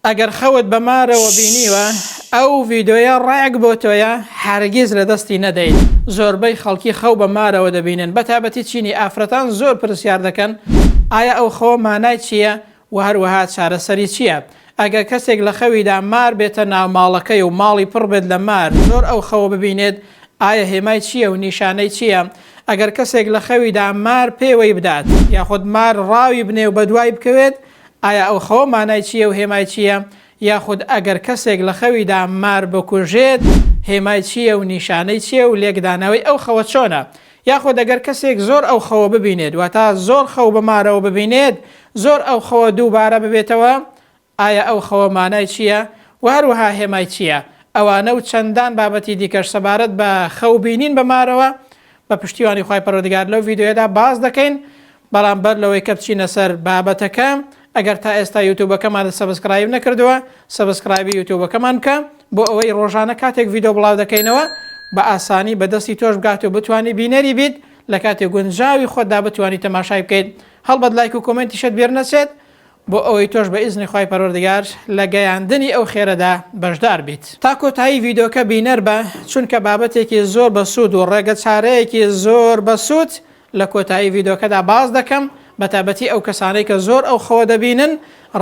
ئەگەر خەوت بە مارەوە بینیوە ئەو ڤیدۆیە ڕێک بۆ تۆیە هەرگیز لە دەستی نەدەیت زۆربەی خەڵکی خەو بە مارەوە دەبینن بە تابەتی چینی ئافرەتان زۆر پرسیار دەکەن ئایا ئەو خەوە مانای چییە و هەروەها چارەسەری چییە ئەگەر کەسێک لە خەویدا مار بێتە ناو ماڵەکەی و ماڵی پڕ بێت لە مار زۆر ئەو خەوە ببینێت ئایا هێمای چییە و نیشانەی چییە ئەگەر کەسێک لە خەویدا مار پێوەی بدات یاخود مار ڕاوی بنێ و بەدوای بکەوێت ئایا ئەو خەوە مانای چییە و هێمای چییە؟ یاخود ئەگەر کەسێک لە خەویدا مار بکوژێت هێمای چییە و نیشانەی چییە و لێکدانەوەی ئەو خەوە چۆنە؟ یاخود ئەگەر کەسێک زۆر ئەو خەوە ببینێت واتە زۆر خەو بە مارەوە ببینێت زۆر ئەو خەوە دووبارە ببێتەوە ئایا ئەو خەوە مانای چییە و هەروەها هێمای چییە؟ ئەوانە و چەندان بابەتی دیکەش سەبارەت بە خەو بینین بە مارەوە بە پشتیوانی خوای پەروەردگار لەو ڤیدیۆیەدا باس دەکەین بەڵام بەر لەوەی کە بچینە سەر بابەتەکە ئەگەر تا ئێستا یوتوبەکەمانت سەبسکرایب نەکردووە سەبسکرایبی یوتوبەکەمان بکە بۆ ئەوەی ڕۆژانە کاتێک ڤیدۆ بڵاو دەکەینەوە بە ئاسانی بە دەستی تۆش بگات و بتانی بینەری بیت لە کاتی گونجاوی خۆتدا بتانی تەماشای بکەیت هەڵبەت لایک و کۆمنتیشت بیر نەچێت بۆ ئەوەی تۆش بە ئیزنی خی پەروەردگار لە گەیاندنی ئەو خێرەدا بەشدار بیت تا کۆتایی ڤیدۆکە بینەر بە چونکە بابەتێکی زۆر بەسوود و ڕێگە چارەیەکی زۆر بەسوود لە کۆتایی ڤیدۆکەدا باس دەکەم بە تایبەتی ئەو کەسانەی کە زۆر ئەو خەوە دەبینن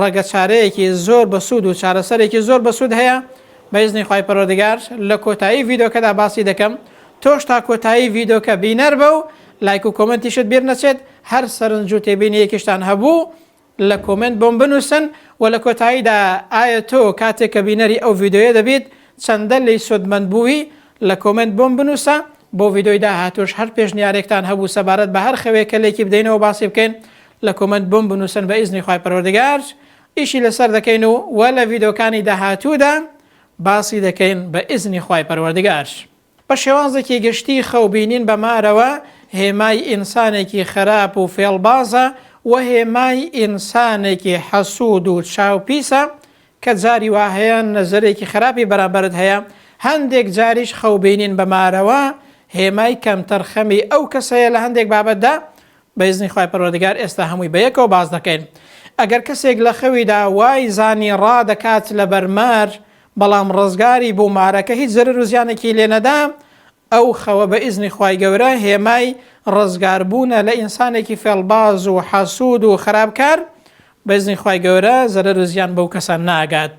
ڕەگە چارەیەکی زۆر بە سوود و چارەسەرێکی زۆر بە سوود هەیە بەیزنی خی پەرۆدگار لە کۆتایی ڤیدۆکەدا باسی دەکەم تۆش تا کۆتایی ڤیدۆکە بینەر بە و لایک و کۆمنتیشت بیر نەچێت هەر سەرنج و تێبینیەکیشتان هەبوو لە کۆمێنت بۆم بنوسن وە لە کۆتاییدا ئایە تۆ کاتێک کە بینەری ئەو ڤیدۆیە دەبیت چەندە لێی سودمەند بووی لە کۆمێنت بۆم بنوسە بۆ ڤیدۆی داهاتوش هەر پێشنیارێکتان هەبوو سەبارەت بە هەر خەوێک کە لێکی بدەینەوە باسی بکەین لە کۆمێنت بۆم بنوسن بە ئیزنی خوای پەروەردگار ئیشی لەسەر دەکەین و وە لە ڤیدۆکانی داهاتوودا باسی دەکەین بە ئیزنی خوای پەروەردگار. بە شێوازێکی گشتی خەو بینین بە مارەوە هێمای ئینسانێکی خەراپ و فێڵبازە و هێمای ئینسانێکی حەسوود و چاو پیسە، کە جاری وا هەیە نەزەرێکی خەراپی بەرامبەرت هەیە، هەندێک جاریش خەو بینین بە مارەوە هێمای کەمتەرخەمی ئەو کەسەیە لە هەندێک بابەتدا، بە ئیزنی خوای پەروەردگار ئێستا هەمووی بە یەکەوە باس دەکەین. ئەگەر کەسێک لە خەویدا وای زانی ڕادەکات لەبەر مار بەڵام ڕزگاری بوو مارەکە هیچ زەرەر و زیانێکی لێ نەدا، ئەو خەوە بە ئیزنی خوای گەورە هێمای ڕزگار بوونە لە ئینسانێکی فێڵباز و حەسوود و خەراپکار، بە ئیزنی خوای گەورە زەرەر و زیان بەو کەسە ناگات.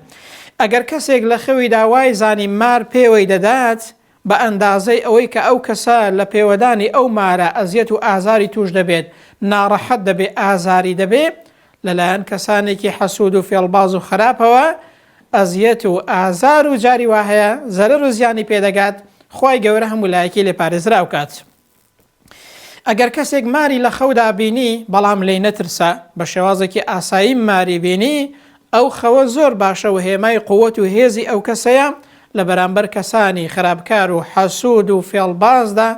ئەگەر کەسێک لە خەویدا وای زانی مار پێوەی دەدات بە ئەندازەی ئەوەی کە ئەو کەسە لە پێوەدانی ئەو مارە ئەزیەت و ئازاری تووش دەبێت، ناڕەحەت دەبێ، ئازاری دەبێ، لە لایەن کەسانێکی حەسوود و فێڵباز و خەراپەوە ئەزیەت و ئازار و جاری وا هەیە زەرەر و زیانی پێ دەگات، خوای گەورە هەموو لایەکی لێ پارێزراو کات. ئەگەر کەسێک ماری لە خەودا بینی بەڵام لێی نەترسا بە شێوازێکی ئاسایی ماری بینی ئەو خەوە زۆر باشە و هێمای قوت و هێزی ئەو کەسەیە لە بەرامبەر کەسانی خراپکار و حەسوود و فێڵبازدا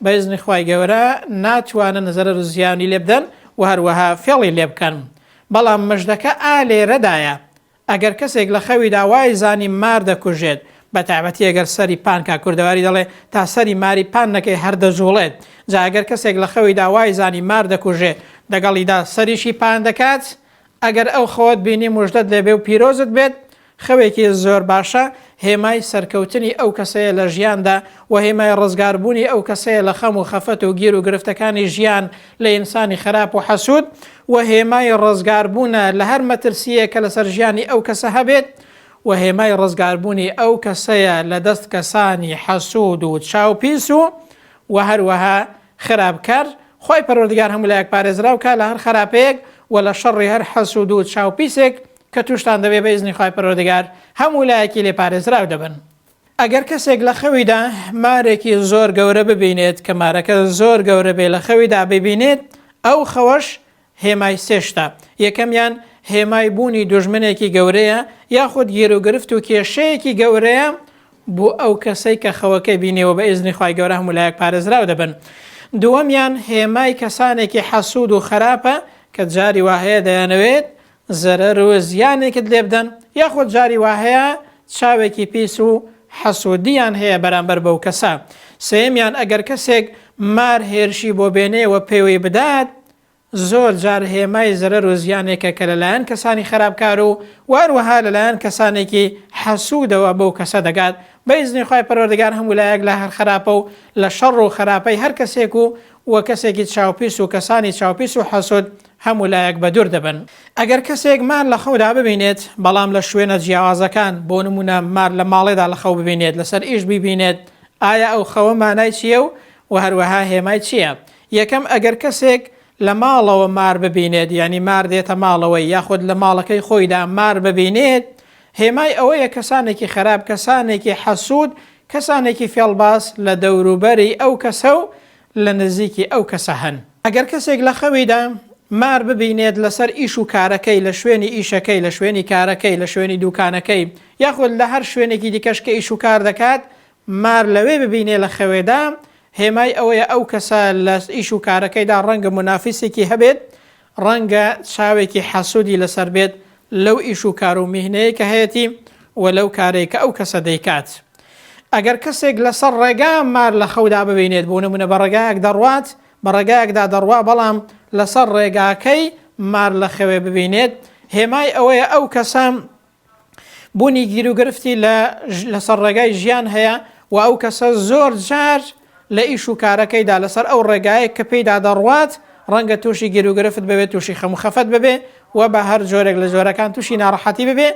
بەزنی خی گەورە ناتوانن زەرەر و زیانی لێبدەن و هەروەها فێڵی لێ بکەن بەڵام مژدەکە ئا لێرەدایە ئەگەر کەسێک لە خەویدا وای زانی مار دەکوژێت، بە تایبەتی ئەگەر سەری پان کا کوردەواری دەڵێ تا سەری ماری پان نەکەی هەر دەجوڵێت، جا ئەگەر کەسێک لە خەویدا وای زانی مار دەکوژێ دەگەڵیدا سەریشی پان دەکات، ئەگەر ئەو خەوەت بینی مژدەت لێبێ و پیرۆزت بێت، خەوێکی زۆر باشە، هێمای سەرکەوتنی ئەو کەسەیە لە ژیاندا و هێمای ڕزگاربوونی ئەو کەسەیە لە خەم و خەفەت و گیر و گرفتەکانی ژیان، لە ئینسانی خەراپ و حەسوود و هێمای ڕزگاربوونە لە هەر مەترسییەک کە لەسەر ژیانی ئەو کەسە هەبێت و هێمای ڕزگاربوونی ئەو کەسەیە لە دەست کەسانی حەسوود و چاوپیس و و هەروەها خراپکار، خوای پەروەردگار هەموو لایەک پارێزراو کا لە هەر خەراپەیەک و لە شەڕی هەر حەسوود و چاوپیسێک کە تووشتان دەبێت بە ئیزنی خوای پەروەردگار هەموو لایەکی لێ پارێزراو دەبن. ئەگەر کەسێک لە خەویدا مارێکی زۆر گەورە ببینێت کە مارەکە زۆر گەورە بێ لە خەویدا ببینێت ئەو خەوەش هێمای سێشتا یەکەمیان هێمای بوونی دوژمنێکی گەورەیە یاخود گیروگرفت و کێشەیەکی گەورەیە بۆ ئەو کەسەی کە خەوەکەی بینێەوە بە ئێزنی خی گەورە هەموو لایەک پارێزراو دەبن دووەمیان هێمای کەسانێکی حەسوود و خراپە کە جاری واهەیە دەیانەوێت زەرەر و زیانێکت لێ بدەن، یاخود جاری وا هەیە چاوێکی پیس و حەسودییان هەیە بەرامبەر بەو کەسە. سێیەمیان ئەگەر کەسێک مار هێرشی بۆ بێنێ و پێوەی بدات، زۆر جار هێمای زەرەر و زیانێکە کە لە لایەن کەسانی خەراپکار و وەهەروەها لە لایەن کەسانێکی حەسودەوە بەو کەسە دەگات. بە ئیزنی خوای پەروەردگار هەموو لایەک لە هەر خەراپە و لە شەڕ و خەراپەی هەر کەسێک و و کەسێکی چاوپیس و کەسانی چاوپیس و حەسود هەموو لایەک بەدوور دەبن. ئەگەر کەسێک مار لە خەودا ببینێت، بەڵام لە شوێنە جیاوازەکان، بۆ نموونە مار لە ماڵێدا لە خەو ببینێت، لەسەر ئیش بیبینێت، ئایا ئەو خەوە مانای چییە و وە هەروەها هێمای چییە؟ یەکەم، ئەگەر کەسێک لە ماڵەوە مار ببینێت، یانی مار دێتە ماڵەوەی، یاخود لە ماڵەکەی خۆیدا مار ببینێت، هێمای ئەوەیە کەسانێکی خەراپ، کەسانێکی حەسوود، کەسانێکی فێڵباز لە دەوروبەری ئەو کەسە و لە نزیکی ئەو کەسە هەن. ئەگەر کەسێک لە خەویدا مار ببینێت لەسەر ئیش و کارەکەی، لە شوێنی ئیشەکەی، لە شوێنی کارەکەی، لە شوێنی دووکانەکەی، یاخود لە هەر شوێنێکی دیکەش کە ئیش و کار دەکات مار لەوێ ببینێ لە خەوێدا، هێمای ئەوەیە ئەو کەسە لە ئیش و کارەکەیدا ڕەنگە مونافیسێکی هەبێت ڕەنگە چاوێکی حەسودی لەسەر بێت لەو ئیش و کار و میهنەیەی کە هەیەتی و لەو کارەی کە ئەو کەسە دەیکات. ئەگەر کەسێک لەسەر ڕێگا مار لە خەودا ببینێت بۆ نمونە بە ڕێگایەک دەڕوات بە ڕێگایەکدا دەڕوا بەڵام لەسەر ڕێگاکەی مار لە خەوێ ببینێت هێمای ئەوەیە ئەو کەسە بوونی گیروگرفتی لە لەسەر ڕێگای ژیان هەیە و ئەو کەسە زۆر جار لە ئیش و کارەکەیدا لەسەر ئەو ڕێگایە کە پێیدا دەڕوات ڕەنگە تووشی گیروگرفت ببێ تووشی خەم خەفەت ببێ و بە هەر جۆرێک لە جۆرەکان تووشی ناڕەحەتی ببێ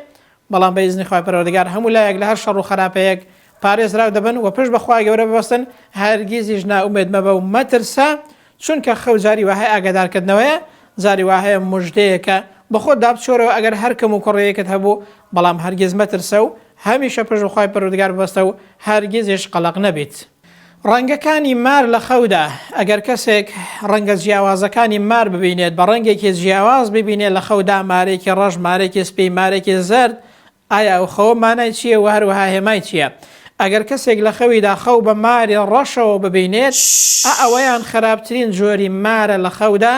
بەڵام بەیزنی خخوای پەرۆردگار هەموو لایەک لە هەر شەڕ و خراپەیەک پارێزراو دەبن و پێش بەخوای گەورە ببستن هەرگیزیش ناومێت مەبە و مەترسە چونکە خەو جاری واهەیە ئاگادارکردنەوەیە، جاری واهەیە مژدەیەکە، بەخۆتدا بچۆرەوە ئەگەر هەر کەم و کوڕییەکت هەبوو، بەڵام هەرگیز مەترسە و هەمیشە پشت بەخوای پەروەردگار ببەستە و هەرگیزیش قەلەق نەبیت. ڕەنگەکانی مار لە خەودا، ئەگەر کەسێک ڕەنگە جیاوازەکانی مار ببینێت، بە ڕەنگێکی جیاواز ببینێت لە خەودا، مارێکی ڕەش، مارێکی سپی، مارێکی زەرد، ئایا ئەو خەوە مانای چییە و هەروەها هێمای چییە؟ ئەگەر کەسێک لە خەویدا خەو بە ماری ڕەشەوە ببینێت، ئا ئەوەیان خراپترین جۆری مارە لە خەودا،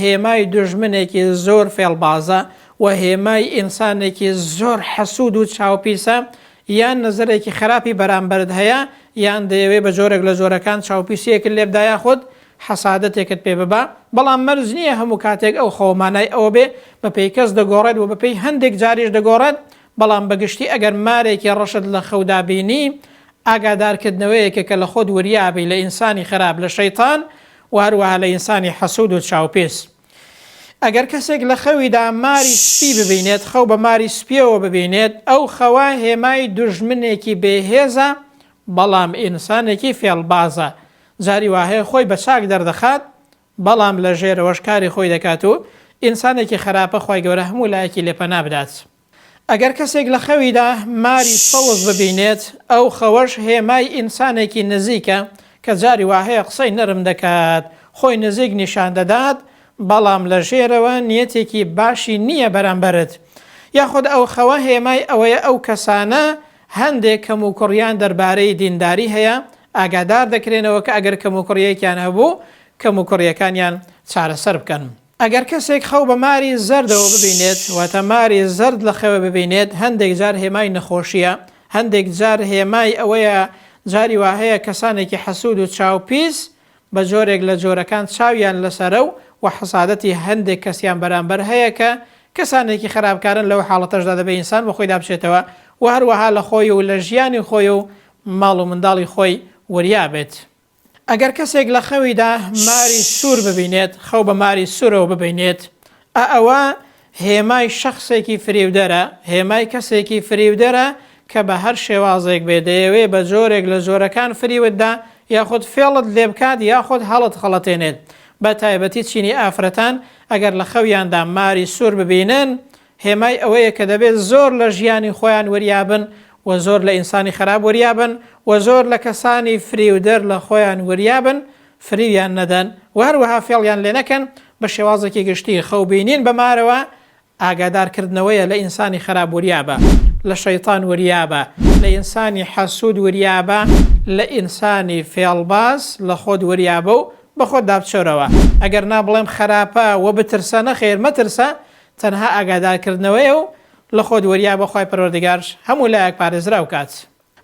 هێمای دوژمنێکی زۆر فێڵبازە و هێمای ئینسانێکی زۆر حەسوود و چاوپیسە، یان نەزەرێکی خراپی بەرامبەرت هەیە، یان دەیەوێت بە جۆرێک لە جۆرەکان چاوپیسییەکت لێبدا یاخود حەسادەتێکت پێ ببا، بەڵام مەرج نییە هەموو کاتێک ئەو خەوە مانای ئەوە بێ بەپێی کەس دەگۆڕێت و بەپێی هەندێک جاریش دەگۆڕێت، بەڵام بە گشتی ئەگەر مارێکی ڕەشت لە خەودا بینی، ئاگادارکردنەوەیەکە کە لە خۆت وریا بی لە ئینسانی خراپ، لە شەیتان و هەروەها لە ئینسانی حەسوود و چاوپێس. ئەگەر کەسێک لە خەویدا ماری سپی ببینێت، خەو بە ماری سپییەوە ببینێت، ئەو خەوە هێمای دوژمنێکی بێهێزە، بەڵام ئینسانێکی فێڵبازە، جاری واهەیە خۆی بە چاک دەردەخات بەڵام لە ژێرەوەش کاری خۆی دەکات و ئینسانێکی خەراپە خوای گەورە هەموو لایەکی لێ پەنا بدات ئەگەر کەسێک لە خەویدا ماری سەوز ببینێت ئەو خەوەش هێمای ئینسانێکی نزیکە کە جاری واهەیە قسەی نەرم دەکات خۆی نزیک نیشان دەدات بەڵام لە ژێرەوە نیەتێکی باشی نییە بەرامبەرت یاخود ئەو خەوە هێمای ئەوەیە ئەو کەسانە هەندێک کەموکوڕییان دەربارەی دینداری هەیە، ئاگادار دەکرێنەوە کە ئەگەر کەموکوڕییەکیان هەبوو، کەموکوڕییەکانیان چارەسەر بکەن. ئەگەر کەسێک خەو بە ماری زەردەوە ببینێت، واتە ماری زەرد لە خەوێ ببینێت، هەندێک جار هێمای نەخۆشییە، هەندێک جار هێمای ئەوەیە، جاری وا هەیە کەسانێکی حەسوود و چاوپیس بە جۆرێک لە جۆرەکان چاویان لەسەرە و وە حەسادەتی هەندێک کەسیان بەرامبەر هەیە کە کەسانێکی خەراپکارن لەو حاڵەتەشدا دەبێ ئینسان بەخۆیدا بچێتەوە و هەروەها لە خۆی و لە ژیانی خۆی و ماڵ و منداڵی خۆی وریا بێت ئەگەر کەسێک لە خەویدا ماری سوور ببینێت خەو بە ماری سوورەوە ببینێت ئا ئەوە هێمای شەخسێکی فریودەرە، هێمای کەسێکی فریودەرە کە بە هەر شێوازێک بێ دەیەوێ بە جۆرێک لە جۆرەکان فریوت دا یاخود فێڵت لێ بکات یاخود هەڵت خەڵەتێنێت بە تایبەتی چینی ئافرەتان ئەگەر لە خەویاندا ماری سوور ببینن هێمای ئەوەیە کە دەبێت زۆر لە ژیانی خۆیان وریابن و زۆر لە ئینسانی خەراپ وریابن و زۆر لە کەسانی فریودەر لە خۆیان وریابن فریویان نەدەن و هەروەها فێڵیان لێنەکەن، بە شێوازێکی گشتی خەو بینین بە مارەوە ئاگادار کردنەوەیە لە ئینسانی خەراب وریابە لە شەیتان وریابە لە ئینسانی حەسود وریابە لە ئینسانی فێڵباز لە خۆت وریابە و بە خۆت دابچۆرەوە ئەگەر نا بڵێم خەراپە و بترسە نەخێر مەترسە تەنها ئاگادار کردنەوەیە و لە خۆت وریابە خوای پەروەردگارش هەموو لایەک پارێزراو کات.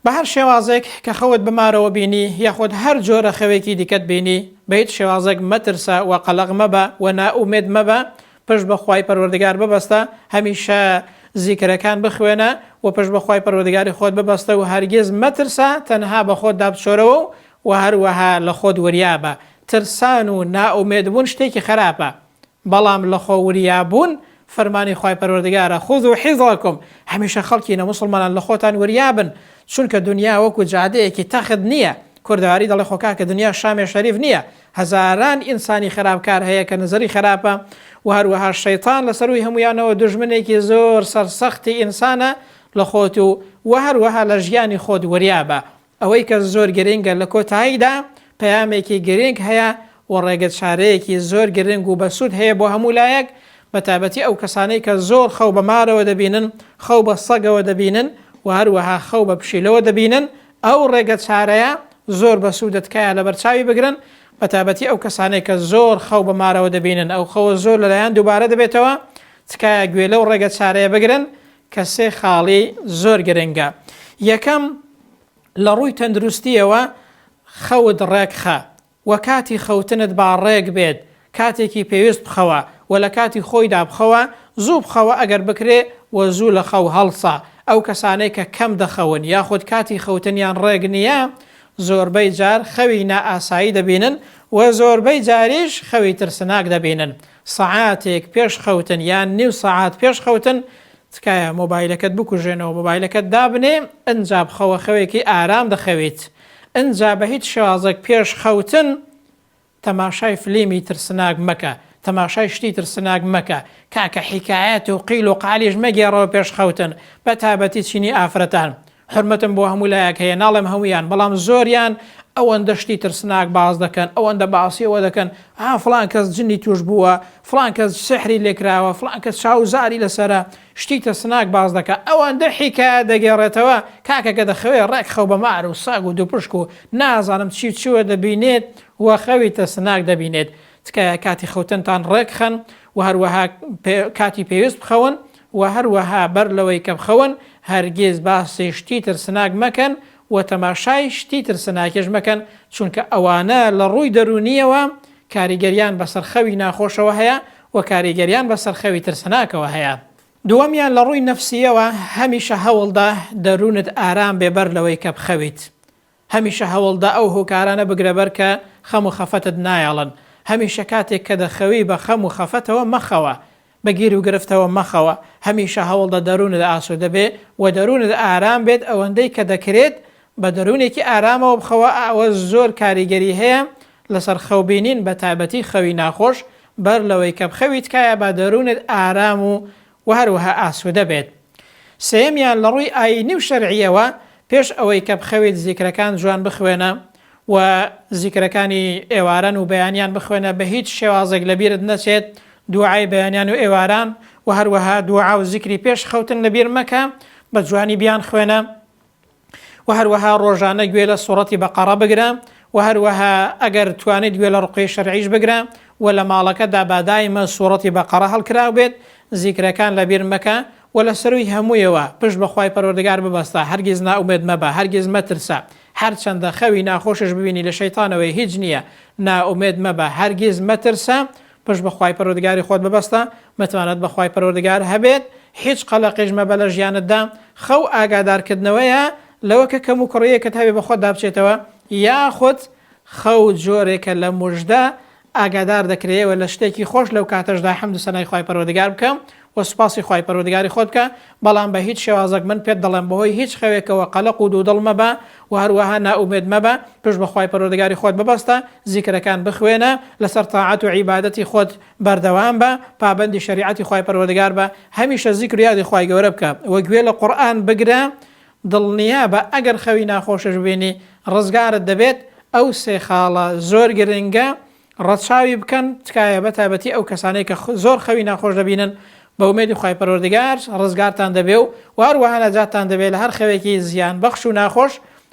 بەهەر شێوازێک کە خەوت بمارەوە بینی یاخود هەر جۆرە خەوێکی دیکەت بینی بە هیچ شێوازێک مەترسە وە قەلەق مەبە وە نائومێد مەبە پشت بە خوای پەروەردگار ببەستە هەمیشە زیکرەکان بخوێنە وە پشت بە خوای پەروەردگاری خۆت ببەستە و هەرگیز مەترسە تەنها بە خۆتدا بچۆرەوە و وە هەروەها لە خۆت وریابە ترسان و نائومێد بوون شتێکی خەراپە بەڵام لە خۆ وریا بوون فەرمانی خوای پەروەردگارە، خذوا حذرکم، هەمیشە خەڵکی نە موسڵمانان لە خۆتان وریا بن، چونکە دنیا وەکو جادەیەکی تەخت نییە، کوردەواری دەڵێ خۆ کاکە دنیا شامێ شەریف نییە، هەزاران ئینسانی خەراپ کار هەیە کە نزری خەراپە و هەروەها شەیتان لە سەرووی هەموویانەوە دوژمنێکی زۆر سەرسەختی ئینسانە لە خۆت و وە هەروەها لە ژیانی خۆت وریا بە ئەوەی کە زۆر گرنگە لە کۆتاییدا پەیامێکی گرنگ هەیە و ڕێگە چارەیەکی زۆر گرنگ و بەسوود هەیە بۆ هەموو لایەک بە تایبەتی ئەو کەسانەی کە زۆر خەو بە مارەوە دەبینن، خەو بە سەگەوە دەبینن و هەروەها خەو بە پشیلەوە دەبینن ئەو ڕێگە چارەیە زۆر بەسوودە تکایە لەبەرچاوی بگرن بە تایبەتی ئەو کەسانەی کە زۆر خەو بە مارەوە دەبینن ئەو خەوە زۆر لەلایەن دووبارە دەبێتەوە تکایە گوێ لەو ڕێگە چارەیە بگرن کە سێ خاڵی زۆر گرنگە. یەکەم، لە ڕووی تەندروستییەوە خەوت ڕێکخە و کاتی خەوتنت با ڕێک بێت، کاتێکی پێویست بخەوە و لە کاتی خۆیدا بخەوە، زوو بخەوە ئەگەر بکرێ و زوو لە خەو هەڵسە، ئەو کەسانەی کە کەم دەخەون یاخود کاتی خەوتنیان ڕێک نییە زۆربەی جار خەوی نائاسایی دەبینن و زۆربەی جاریش خەوی ترسناک دەبینن. سەعاتێک پێش خەوتن یان نیو سەعات پێش خەوتن تکایە مۆبایلەکەت بکوژێنەوە مۆبایلەکەت دابنێ ئنجا بخەوە خەوێکی ئارام دەخەویت ئنجا بە هیچ شێوازێک پێش خەوتن تەماشای فلیمی ترسناک مەکە تەماشای شتی ترسناک مەکە کاکە حیکایەت و قیل و قالیش مەگێڕەوە پێش خەوتن بە تابەتی چینی ئافرەتان حورمەتم بۆ هەموو لایەک هەیە ناڵێم هەموویان بەڵام زۆریان ئەوەندە شتی ترسناک باس دەکەن ئەوەندە باسی ئەوە دەکەن ها فلان کەس جنی توش بووە فلان کەس سحری لێکراوە فلان کەس چاوزاری لەسرە شتی ترسناک باس دەکە ئەوەندە حیکایە دەگەڕێتەوە کاکەکە دەخەوێ ڕێک خەو بە مار و ساگ و دوپشک و نازانم چی چوە دەبینێت و خەوی ترسناک دەبینێت تکایە کاتی خەوتنتان ڕێکخەن و هەروەها کاتی پێویست بخەون وە هەروەها بەر لەوەی کە بخەون هەرگیز باسی شتی ترسناک مەکەن وە تەماشای شتی ترسناکیش مەکەن چونکە ئەوانە لە ڕووی دەروونیەوە کاریگەریان بەسەر خەوی ناخۆشەوە هەیە وە کاریگەریان بەسەر خەوی ترسناکەوە هەیە. دووەمیان لە ڕووی نەفسیەوە هەمیشە هەوڵدە دەروونت ئارام بێ بەر لەوەی کە بخەویت هەمیشە هەوڵدە ئەو هۆکارانە بگرەبەر کە خەم و خەفەتت نایەڵن. هەمیشە کاتێک کە دەخەوی بە خەم و خەفەتەوە مەخەوە. بە گیروگرفتەوە مەخەوە. هەمیشە هەوڵدە دەروونت ئاسوودە بێ و دەروونت ئارام بێت، ئەوەندەی کە دەکرێت بە دەروونێکی ئارامەوە بخەوە، ئەوە زۆر کاریگەری هەیە لەسەر خەو بینین بەتایبەتی خەوی ناخۆش، بەر لەوەی کە بخەوی تکایە با دەروونت ئارام و و هەروەها ئاسوودە بێت. سێیەمیان لە ڕووی ئایینی و شەرعییەوە پێش ئەوەی کە بخەویت زیکرەکان جوان بخوێنە و زیکرەکانی ئێواران و بەیانیان بخوێنە بە هیچ شێوازێک لە بیرت نەچێت دوعای بەیانیان و ئێواران و هەروەها دوعا و زیکری پێش خەوتن لە بیر مەکە بە جوانی بیانخوێنە. وە هەروەها ڕۆژانە گوێ لە سوڕەتی بەقەڕە بگرە وە هەروەها ئەگەر توانیت گوێ لە ڕوقیەی شەرعیش بگرە وە لە ماڵەکەتدا با دایمە سوڕەتی بەقەڕە هەڵکراو بێت زیکرەکان لەبیر مەکە وە لە سەرووی هەموویەوە پشت بە خوای پەروەردگار ببەستە هەرگیز نائومێد مەبە هەرگیز مەترسە هەرچەندە خەوی ناخۆشش ببینی لە شەیتانەوەی هیچ نییە نائومێد مەبە هەرگیز مەترسە پشت بە خوای پەروەردگاری خۆت ببەستە، متمانەت بە خوای پەروەردگار هەبێت، هیچ قەلەقیش مەبە لە ژیانتدا، خەو ئاگادارکردنەوەیە لەوە کە کەموکوڕییەکت هەبێت بەخۆتدا بچێتەوە، یاخود خەو جۆرێکە لە مژدە، ئاگادار دەکرێیەوە لە شتێکی خۆش لەو کاتەشدا حەمد و سەنای خوای پەروەردگار بکە، و سوپاسی خوای پەروەردگاری خۆت بکە، بەڵام بە هیچ شێوازەک من پێت دەڵێم بەهۆی هیچ خەوێکەوە قەلەق و دوودڵ مەبە و هەروەها نائومێد مەبە، پشت بە خوای پەروەردگاری خۆت ببەستە، زیکرەکان بخوێنە، لەسەر تاعەت و عیبادەتی خۆت بەردەوام بە، پابەندی شەریعەتی خوای پەروەردگار بە، هەمیشە زیکر و یادی خوای گەورە بکە و گوێ لە قورئان بگرە، دڵنیابە ئەگەر خەوی ناخۆشش ببینی ڕزگارت دەبێت، ئەو سێ خاڵە زۆر گرنگە ڕەچاوی بکەن تکایە بە تایبەتی ئەو کەسانەی کە زۆر خەوی ناخۆش دەبینن بە ئومێدی خوای پەروەردگار ڕزگارتان دەبێ و وهەروەها نەجاتتان دەبێ لە هەر خەوێکی زیان بەخش و ناخۆش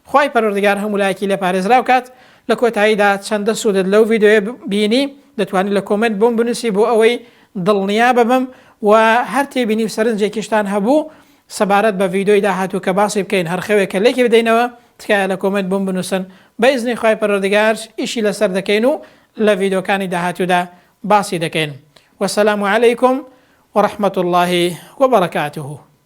خوای پەروەردگار هەموو لایەکی لێ پارێزراو کات لە کۆتاییدا چەندە سوودت لەو ڤیدیۆیە بینی دەتوانی لە کۆمێنت بۆم بنووسی بۆ ئەوەی دڵنیا ببم و هەر تێبینی و سەرنجێکیشتان هەبوو سەبارەت بە ڤیدۆی داهاتوو کە باسی بکەین هەر خەوێکە لێکی بدەینەوە تکایە لە کۆمێنت بۆم بنوسن بە ئیزنی خوای پەروەردگار ئیشی لەسەر دەکەین و لە ڤیدۆکانی داهاتوودا باسی دەکەین وسلام علیکم ورحمە اللە وبرکاته.